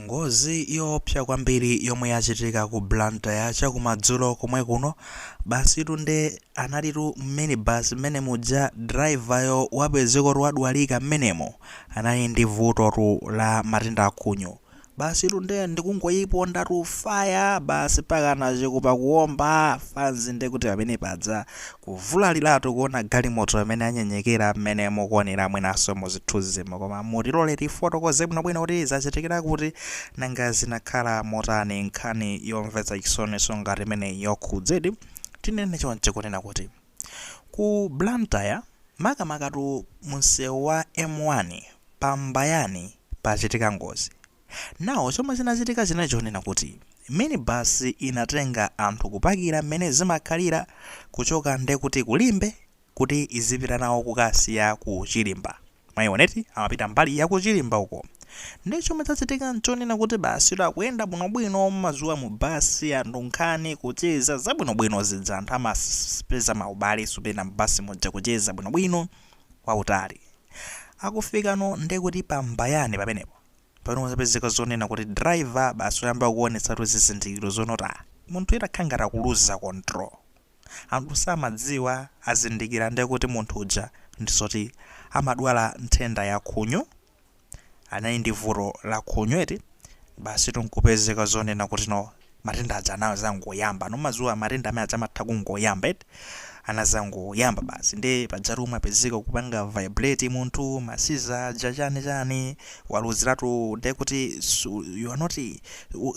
Ngozi yoopsa kwambiri yomwe yachitika ku Blantyre chakumadzulo komwe kuno, basitu nde analitu minibus mmene muja driver yo wapezekotu wadwalika mmenemo, anali ndi vutotu la matenda a khunyu. Basitu nde ndikungoipondatu fire basi mpakana chikupa kuomba, fanzi nde kuti pamene paja. Kuvulaliratu kuona galimoto mmene yanyenyekera mmene mukuonera mwinanso mu zithunzimo. Koma mutilole tifotokoze bwinobwino kuti zachitikira kuti, nanga zinakhala motani? Nkhani yomvetsa chisoninso ngati imeneyi yokhudzedi, tinene choncho, kunena kuti, ku Blantyre, makamakatu mumsewu wa M1 pa Mbayani pachitika ngozi. Now chomwe chinachitika chinali chonena kuti mini bus inatenga anthu kupakira mmene zimakhalira kuchoka nde kuti ku Limbe kuti izipita nawo kukasiya ku Chilimba mwaiona eti amapita mbali ya ku Chilimba uko nde chomwe chachitika nchonena kuti basi tu akuyenda bwinobwino mumadziwa mu bus anthu nkhani kucheza zabwinobwino zija anthu amapeza maubale zopenga mu bus muja kucheza bwinobwino kwautali akufikano nde kuti pa Mbayani pamenepo pano zapezeka zonena kuti driver basi wayamba kuonetsatu zizindikiro zonoti ah, munthu wakhala ngati akuluza control anthu samadziwa azindikira nde kuti munthu uja ndizoti amadwala nthenda ya khunyu anali ndi vuto la khunyu eti basi tu nkupezeka zonena kuti no matenda aja anazangoyamba no mumaziwa matenda amene aja amatha kungoyamba eti anazangoyamba basi nde pajatu umapezeka ukupanga vibrate munthu ma siza aja chani chani waluziratu nde kuti you are not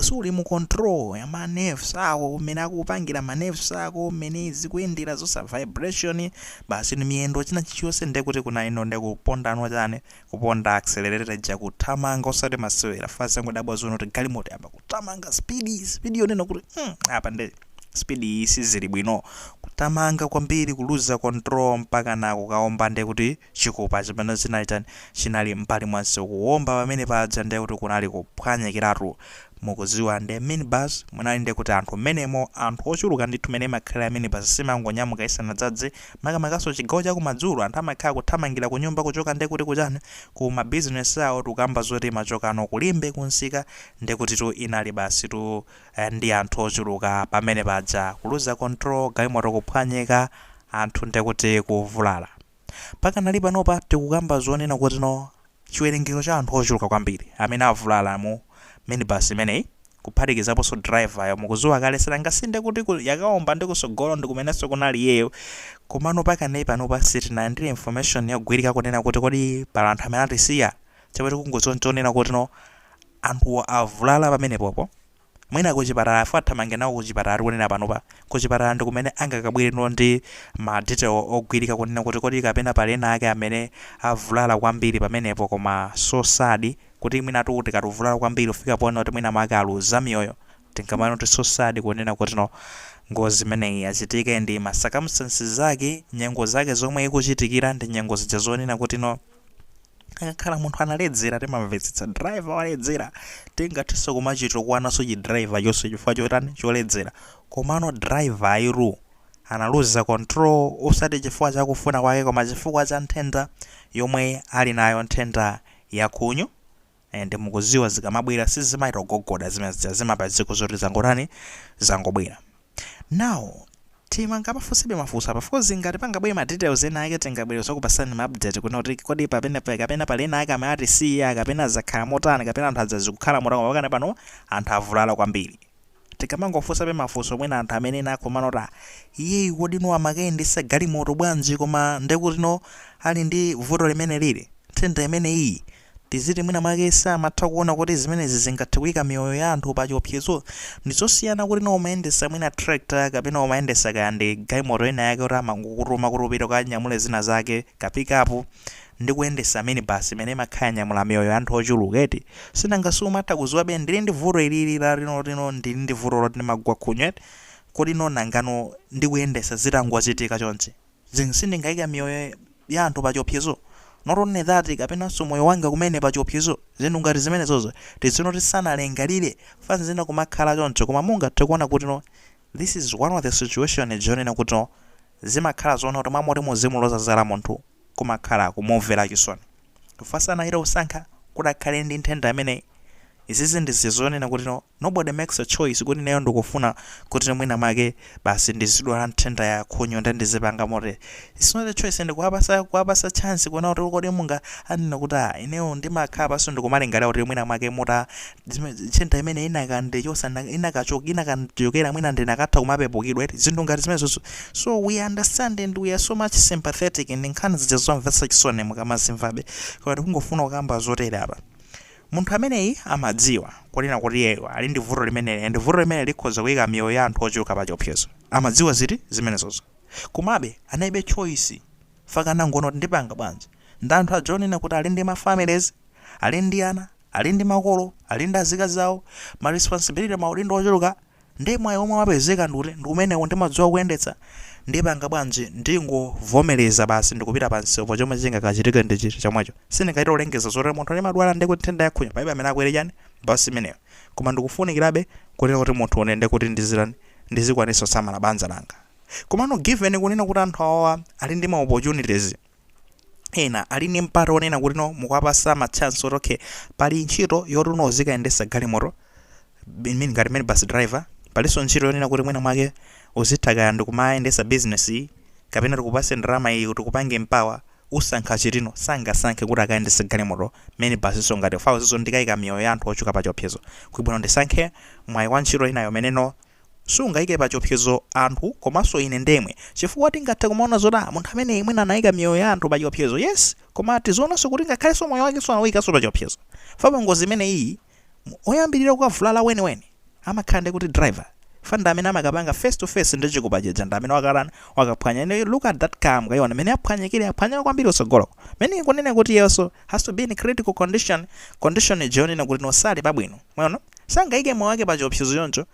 suli mu control ya ma nerves ako mmene akupangira ma nerves ako mmene zikuyendera zonse vibration basi ni miyendo china chilichonse nde kuti kuna ino nde kupondano chani Kuponda accelerator ija kuthamanga osati masewera fanzi angodabwa zonena kuti galimoto yamba kuthamanga speed speed yonena kuti mm, apa nde speed iyi sizili bwino kuthamanga kwambiri kuluza control mpaka na kukaomba nde kuti chikupa chimene chinali chani chinali mbali mwa msewu kuomba pamene paja nde kuti kunali kuphwanyikiratu mukuziwa nde minibus munali nde kuti anthu mmenemo anthu ochuluka ndithu mene imakhalira minibus simangonyamuka isanadzadze Makamakanso chigawo cha kumadzulo anthu amakhala kuthamangira kunyumba kuchoka nde kuti kuchani ku ma business awo tikukamba zoti imachokano ku Limbe ku nsika ndekutitu inali basitu ndi anthu ochuluka pamene paja kuluza control galimoto kuphwanyika anthu ndekuti kuvulala pakanali panopa tikukamba zonena kuti no Chiwerengero cha anthu ochuluka kwambiri amene avulala mu minibus imeneyi, kuphatikizaponso driver yo mukuziwa kale sinanga si ndi kuti yakaomba ndi kusogolo ndikumenenso kunali iyeyo komano pakanali panopa sitinalandire information yogwirika kunena kuti kodi pali anthu amene atisiya chomwe tikungoziwa nchonena kuti no anthuwo avulala pamenepopo Mwina kuchipatala chifukwa athamange nawo kuchipatala tikunena panopa. Kuchipatala ndi kumene angakabwereno ndi ma detail ogwirika kunena kuti kodi kapena pali ena ake amene avulala kwambiri pamenepo koma so sad kuti mwinatu tikati kuvulala kwambiri kufika ponena kuti mwina mwake aluza miyoyo tingamanene kuti so sad kunena kuti no ngozi imeneyi yachitika ndi ma circumstances ake, nyengo zake zomwe ikuchitikira ndi nyengo zija zonena kuti no. akakhala munthu analedzera timamvetsetsa driver waledzera tingathenso kumachitukwananso chi driver chonchi chifukwa chotani choledzera komano driver uyu analuza control osati chifukwa chakufuna kwake koma chifukwa cha nthenda yomwe ali nayo nthenda ya khunyu and mukuziwa zikamabwera sizimachita kugogoda zimene zija zimaba dziko zoti zangotani zangobwera now timangamafunsebe mafunso apa because ngati pangabwere ma details ena ake tingabwere nzokupasani ma update kunena kuti kodi papene pa- kapena pali ena ake amene atisiya kapena zakhala motani kapena anthu anzathu zikukhala motani pakanali pano anthu avulala kwambiri Tikamangofunsabe mafunso mwina anthu amenewa akumanena kuti ah iyeyu kodi no amakayendesa galimoto bwanji koma nde kuti no ali ndi vuto limeneli ili, nthenda imeneyi iyi, tiziti mwina mwake samatha kuona kuti zimenezi zingathe kuika miyoyo ya anthu pa chiopsezo? Ndizosiyana kuti no umayendesa mwina tractor kapena umayendesa kaya ndi galimoto ina yake yoti amangokutuma kuti upite ukanyamule zina zake, ka pick up, ndi kuyendesa minibus imene imakhala yanyamula miyoyo ya anthu ochuluka eti, sinanga siumatha kuziwabe ndili ndi vuto ilili la lino lino ndili ndi vuto loti ndimagwa khunyu eti, kodi no nangano ndikuyendesa zitangochitika chonchi then sindingaike miyoyo ya anthu pachiopsezo? not only that kapenanso moyo wanga kumene pachiopsezo, zinthu ngati zimenezozo tizinena kuti sanalingalire nthawi zina kumakhala choncho koma mungathe kuona kuti no this is one of the situation zonena kuti no zimakhala zonena kuti mmalo moti muzimuloza zala munthu kumakhala kumumvera chisoni chifukwa sanachite kusankha kuti akhale ndi nthenda imeneyi. Izizi ndi zija zonena kuti no, nobody makes a choice kuti ineyo ndikufuna kuti mwina mwake basi ndizidwala nthenda ya khunyu nde ndizipanga motere. It's not a choice ndikuwapasa kuwapasa chance kunena kuti kodi mwina anene kuti ah ineyo ndimakhala pansi ndikumalingalira kuti mwina mwake muta zimene nthenda imene inakande chosa inakachoka inakachokera mwina ndinakatha kumapepukidwa eti zinthu ngati zimenezozo so we understand and we are so much sympathetic ndi nkhani zija zomvetsa chisoni mukamazimvabe koma tikungofuna kukamba zotere apa munthu ameneyi amadziwa kunena kuti iyeyo ali ndi vuto limeneli and vuto limene likhoza kuyika miyoyo ya anthu ochuluka pa chiopsezo amadziwa ziti zimenezozo komabe analibe choice fukwa anangoona kuti ndipanga bwanji ndi anthu aja onena kuti ali ndi ma families ali ndi ana ali ndi makolo, ali ndi azikazi awo, ma responsibility, maudindo ochuluka, nde mwayi omwe wapezeka ndi uti, ndi umenewo, ndimadziwa kuyendetsa, ndipanga bwanji, ndingovomereza basi ndikupita pa msewu, chomwe chingakachitike ndi chinthu chomwecho, sindingachite kulengeza zoti munthu ndimadwala ndi nthenda ya khunyu, palibe amene akwere chani, bus imeneyo, koma ndikufunikirabe kunena kuti munthune nde kuti ndizitani, ndizikwanitsa kusamala banja langa, komano given kunena kuti anthu awawa ali ndi ma opportunities. ena ali ndi mpata onena kuti no mukwapasa ma chance oti okay pali ntchito yoti no uzikayendesa galimoto I mean ngati minibus driver palinso ntchito yonena kuti mwina mwake uzitha kaya ndikumayendesa business iyi kapena tikupase ndalama iyi kuti tikupange empower usankha chiti no sangasankhe kuti akayendesa galimoto minibusnso ngati fawo zizo ndikayika miyoyo ya anthu ochuluka pa chiopsezo kuli bwino ndisankhe mwayi wa ntchito inayo umene no sungaike pachiopsezo anthu komanso ine ndemwe chifukwa tingathe kumaona zoti ah munthu ameneyi mwina anaika miyoyo ya anthu pachiopsezo yes koma tizionanso kuti ngakhalenso moyo wakenso anauikanso pachiopsezo fa pa ngozi imeneyiyi mu- oyambirira kukavulala weniweni amakhala ndi kuti driver fa ndi amene amakapanga face to face ndi chikupa chija ndi amene wakatani wakaphwanya and look at that car mukaiona mmene yaphwanyikira yaphwanyika kwambiri kutsogoloko meaning kunena kuti iyenso has to be in critical condition condition ija yonena kuti no sali pabwino mwaona sangaike moyo wake pa chiopsezo choncho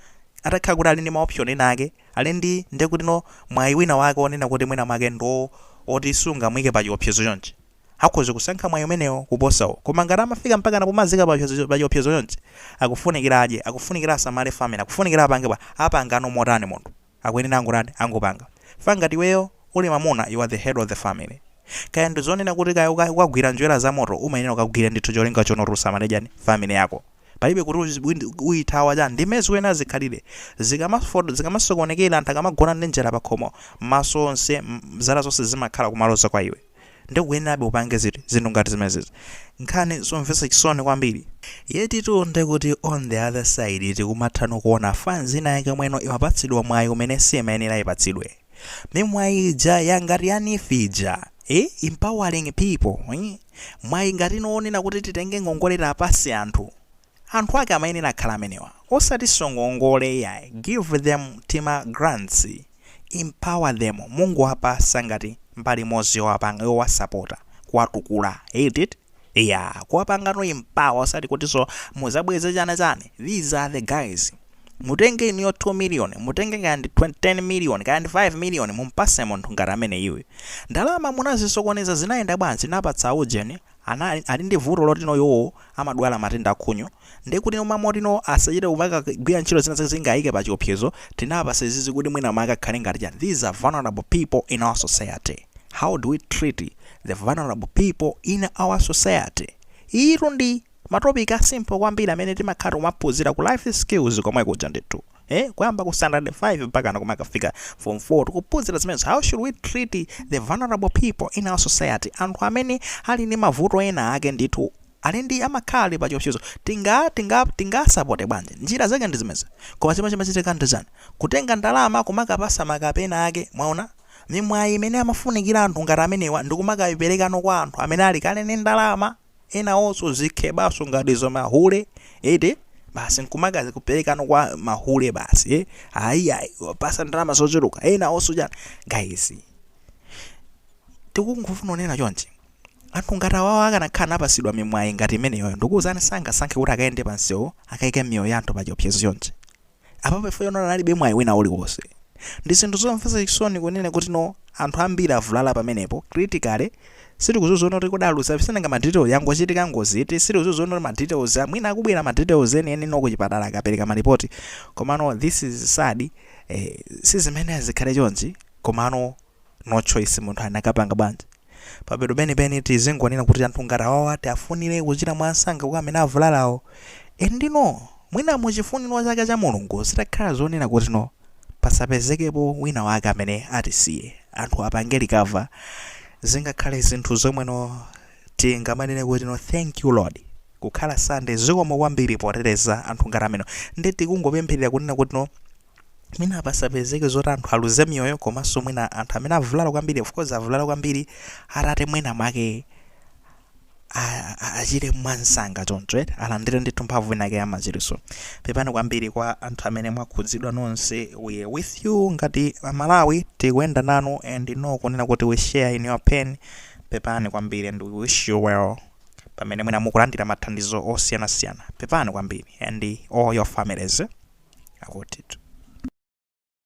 atakhala kuti ali ndi maoption ena ake ali ndi ndiye kuti no mwayi wina wake onena kuti mwina mwake ndo oti sungamuike pa chiopsezo chonchi akhoza kusankha mwayi umenewo kuposa uwo koma ngati amafika mpakana pomadziika pa chiopsezo- pa chiopsezo chonchi akufunikira adye akufunikira asamale family akufunikira apange bwa apangano motani munthu akuyenera angotani angopanga fa ngati iweyo uli mamuna you are the head of the family kaya ndi zonena kuti kaya uka- ukagwira njwera za moto umayenera ukagwire ndithu cholinga choti usamale chani family yako palibe kuti uzi- uyi- uyithawa chani ndi mmene zikuyenera zikhalire zikamafoto zikamasokonekera anthu akamagona ndi njala pakhomo maso onse m- zala zonse zimakhala kumaloza kwa iwe Ndiye ukuyenerabe upange ziti? Zinthu ngati zimenezi. Nkhani zomvetsa chisoni kwambiri. Yetitu ndiye kuti on the other side tikumathano kuona fans ina yake yomweno imapatsidwa mwayi umene simayenera ipatsidwe. Mimwayi ija ya ngati ya NEEF ija. Eh? Empowering people. Eh? Mwayi ngati ino wonena kuti titenge ngongole tiwapatse anthu. Anthu ake amayenera kukhala amenewa osatinso ngongole iyayi give them tima grants empower them mungowapasa ngati mbali imodzi yowapanga yowasapota kuwatukula iyaa kuwapangano empower osati kutinso muzabweze chani chani these are the guys mutenge inuyo 2 million mutenge kaya ndi 10 million kaya ndi 5 million mumpase munthu ngati ameneyuyu ndalama munazisokoneza zinayenda bwanji napatsa ujeni Ana ali ndi vuto loti no iwowo amadwala matenda a khunyu nde kuti mwina mwake kuti no asachite kumakagwira ntchito zina zake zingawaike pa chiopsezo tinawapasa izizi kuti mwina mwake akhale ngati chani these are vulnerable people in our society how do we treat the vulnerable people in our society iyitu ndi ma topic a simple kwambiri amene timakhala tikumaphunzira ku life skills komwe kuja ndithu. eh kuyamba ku standard 5 mpakana kumakafika form 4 tikuphunzira zimenezo how should we treat the vulnerable people in our society anthu amene ali ndi mavuto ena ake ndithu ali ndi amakhala ali pa chiopsezo tinga tinga tingasapote bwanji njira zake ndi zimezi koma chimene chimachitika ndi chani kutenga ndalama kumakapasa makape enaake mwaona mimwayi imene amafunikira anthu ngati amenewa ndi kumakayiperekano kwa anthu amene ali kale ndi ndalama enawoso zikhebaso ngati izo mahule eti basi nkumakaziperekano kwa mahule basi eh? ayiayi apasa ndalama zochuluka enawoso chani guys tikungofuna kunena chonchi anthu ngati awawo akanakhala anapasidwa mimwayi ngati imeneyoyo ndikuwuzani sangasankhe kuti akayende pansewo akayike miyoyo ya anthu pachiopsezo chonchi Apapa chifukwa choona analibe mwayi wina uliwonse. Ndi zinthu zomvetsa chisoni kunena kuti no anthu ambiri avulala pamenepo, critically, sitikudziwa zoona kuti kodi aluza nanga ma details yangochitika ngozi iti, sitikudziwa zoona kuti ma details a mwina akubwera ma details enieni no kuchipatala akapereka ma report, komano this is sad, eh, sizimene zikhale chonchi, komano. no choice munthu anakapanga bwanji pamapeto penipeni tizingonena kuti anthu ngati awawa tiafunire kuchira mwansanga kwa amene avulalawo and no mwina muchifuniro chake cha mulungu zitakhala zonena kuti no pasapezekepo wina wake amene atisiye anthu apange recover zingakhale zinthu zomwe no tingamanene kuti no thank you lord kukhala Sunday zikomo kwambiri poteteza anthu ngati amenewa nde tikungopempherera kunena kuti no mwina pasapezeke zoti anthu aluze miyoyo komanso mwina anthu amene avulala kwambiri of course avulala kwambiri atate mwina mwake a- a- achire mwansanga choncho eti alandire ndithu mphamvu inake yamachiritso pepani kwambiri kwa anthu amene mwakhudzidwa nonse we are with you ngati amalawi tikuyenda nanu and no kunena kuti we share in your pain pepani kwambiri and we wish you well pamene mwina mukulandira mathandizo osiyanasiyana pepani kwambiri and all your families akutitu